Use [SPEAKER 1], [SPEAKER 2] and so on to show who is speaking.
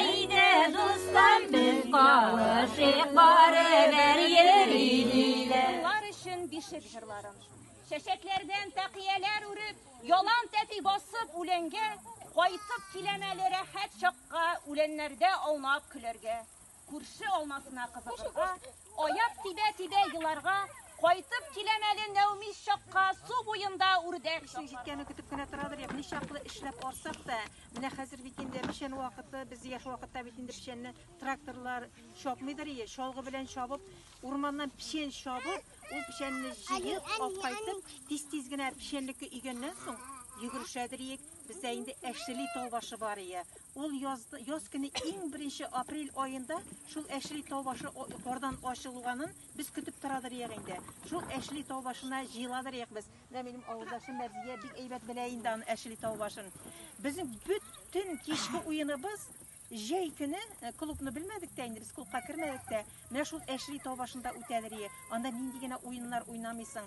[SPEAKER 1] Әйдә, дуслар, без кавышыйк, барыбер йөри диләр. Улар өчен
[SPEAKER 2] бишек җырларын. Чәчәкләрдән тәкияләр үреп, ялан тәфи басып үләнгә, кайтып киләм әле рәхәт чакка, үләннәрдә аунап көләргә. Күрше алмасына кызыгырга, Аяк тибә-тибә еларга, кайтып киләм әле Нәүмис чакка, су буенда үрдәк. Эшнең җиткәнен көтеп кенә
[SPEAKER 3] торадыр, як ничаклы эшләп арсак та, менә хәзер бит инде печән вакыты, без яшь вакытта бит инде печәнне тракторлар чапмыйдыр ие, чалгы белән чабып, урманнан печән чабып, ул печәнне җыеп, алып кайтып, тиз-тиз генә печәнлеккә өйгәннән соң, йөгерешәдер иек. Бездә инде әшли тау башы бар ие. Ул яз, яз көне иң беренче апрель аенда шул әшли тау башы кордан ачылуганын без көтеп торадыр ие инде. Шул әшли тау башына җыеладыр ие без. Менә минем авылдашым Мәрзия бик әйбәт белә инде аны әшли тау башын. Безнең бөтен кичке уеныбыз Җәй көне э, клубны белмәдек тә инде, без клубка кермәдек тә. Менә шул әшли тау башында үтәдер ие. Анда нинди генә уеннар уйнамыйсың.